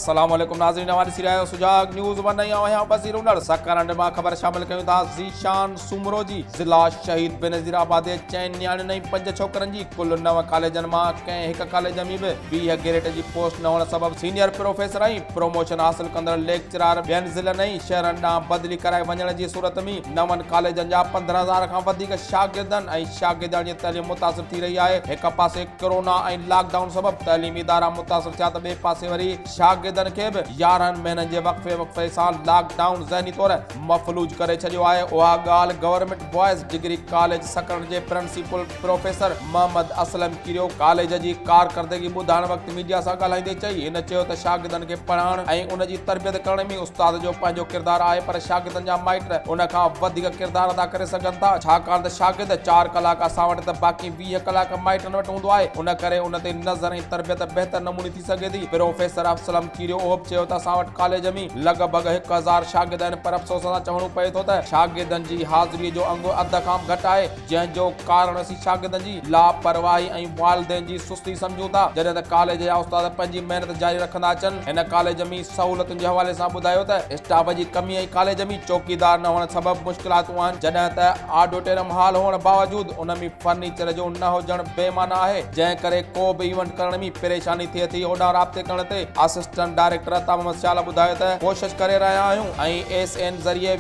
السلام عليڪم ناظرين اوهان ڏسي رهيا آهيو سجاڳ نيوز ون ۽ آهيان وزير هنر سحڪار هنڊ مان خبر شامل ڪيون ٿا ذيشان سومرو جي ضلع شهيد بينظير آباد جي چئن نياڻين ۽ پنج ڇوڪرن جي ڪل نو ڪاليجن مان ڪنهن هڪ ڪاليج ۾ به ويهه گيريٽ جي پوسٽ نه هئڻ سبب سينيئر پروفيسر ۽ پروموشن حاصل ڪندڙ ليڪچرار ٻين ضلعن ۽ شهرن ڏانهن بدلي ڪرائي وڃڻ جي صورت ۾ نون ڪاليجن جا پندرهن هزار کان وڌيڪ شاگردن ۽ شاگردياڻين جي تعليم متاثر ٿي رهي آهي، هڪ پاسي ڪرونا ۽ لاڪ ڊائون سبب تعليمي ادارا متاثر ٿيا ته ٻئي پاسي وري شاگردن کي به يارهن مهينن جي وقفي وقفي سان لاڪ ڊائون ذهني طور مفلوج ڪري ڇڏيو آهي، اها ڳالهه government boys degree college Sakrand جي پرنسيپل پروفيسر محمد اسلم ڪريو ڪاليج جي ڪارڪردگي ٻڌائڻ وقت ميڊيا سان ڳالهائيندي چئي. هن چيو ته شاگردن کي پڙهائڻ ۽ ان جي تربيت ڪرڻ ۾ استاد جو پنهنجو ڪردار آهي پر شاگردن جا مائٽ ان کان وڌيڪ ڪردار ادا ڪري سگهن ٿا ڇاڪاڻ ته شاگرد چار ڪلاڪ اسان وٽ ته باقي ويهه ڪلاڪ مائٽن وٽ هوندو آهي ان ڪري ان تي نظر ۽ تربيت بهتر نموني ٿي سگهي ٿي. پروفيسر اسلم ڪريو اهو به چيو ته اسان وٽ ڪاليج ۾ لڳ ڀڳ هڪ هزار شاگرد آهن پر افسوس سان چوڻو پئي ٿو ته شاگردن جي حاضري جو انگ اڌ کان به گهٽ آهي. جنهن جو ڪارڻ اسين شاگردن جي لاپرواهي ۽ والدين جي سستي سمجهون ٿا جڏهن ته ڪاليج جا استاد پنهنجي محنت جاري رکندا اچن هن ڪاليج مين سهولتن جي حوالي سان ٻڌايو ته اسٽاف جي ڪمي ۽ ڪاليج مين چوڪيدار نه هئڻ سبب مشڪلاتون آهن جڏهن ته آڊوٽيرم هال هئڻ باوجود ان مين فرنيچر جو نه هجڻ بي معنيٰ آهي جنهن ڪري ڪو به ايونٽ ڪرڻ مين پريشاني ٿئي ٿي هوڏانهن رابطي ڪرڻ تي اسسٽنٽ ڊائريڪٽر عطا محمد سيال ٻڌايو ته ڪوشش ڪري رهيا آهيون ۽ ايس اين ذريعي